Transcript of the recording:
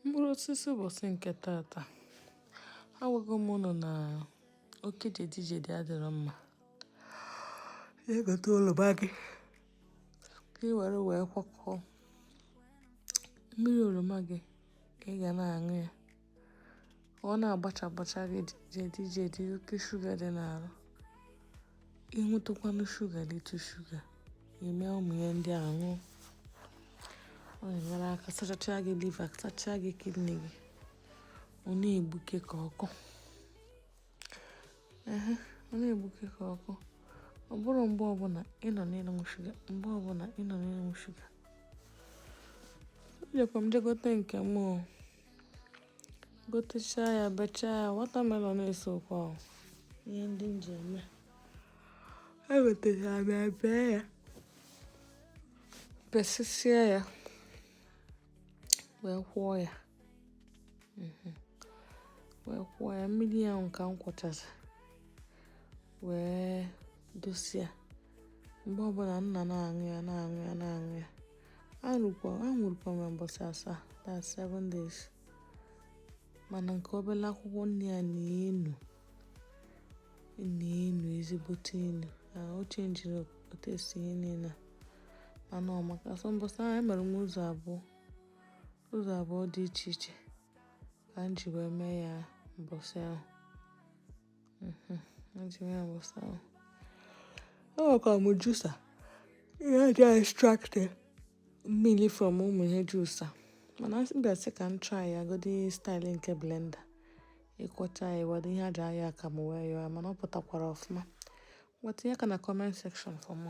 mkpụrụ osisi ụbọsị nke tata agwago m ụnụ na oke jedijedi adịrọ mma ya egote oroma gị ka ị were wee kwakọọ mmiri oroma gị ka ị ga na-aṅụ ya ọ na-agbacha agbacha gị jedi jedi oke shuga dị n'arụ ị ṅụtụkwanụ shuga litụ shuga ị mee ụmụ ihe ndị a ṅụọ ọ na-enyere aka sachachaa gị liver sachachaa gị kidney gị ọ na-egbuke ka ọkụ ehe ọ na-egbuke ka ọkụ ọ bụrụ mgbe ọbụla ị nọ n'ịṅụ shuga mgbe ọbụla ị nọ n'ịṅụ shuga ejekwa m jegote nke m gotechaa ya bechaa ya watermelon na-esokwa o ihe ndị m ji eme egotesịa m ya bee ya besịsịa ya wee kwọọ ya mhm wee kwọọ ya mmiri ahụ ka m kwọchara wee dosia mgbe ọbụla m na-aṅụ ya na-aṅụ ya na-aṅụ ya aṅụrụkwa m mbọsị asaa that's seven days mana nke obere akwụkwọ nni ya na-enu na-enu ezigbote enu o chenjiri taste ihe niile mana ọ maka so mbọsị ahụ emere m ụzọ abụọ ụzọ abụọ dị iche iche ka m ji wee mee ya mbọsị ahụ enwekwa m juicer ihe e ji extract mmiri from ụmụ ihe juicer mana asị bịa sị ka m try ya godi style nke blender ịkwọcha ya were ihe e ji ayọ akamụ wee yọọ mana ọ pụtakwara ọfụma bịa tinye aka na comment section for more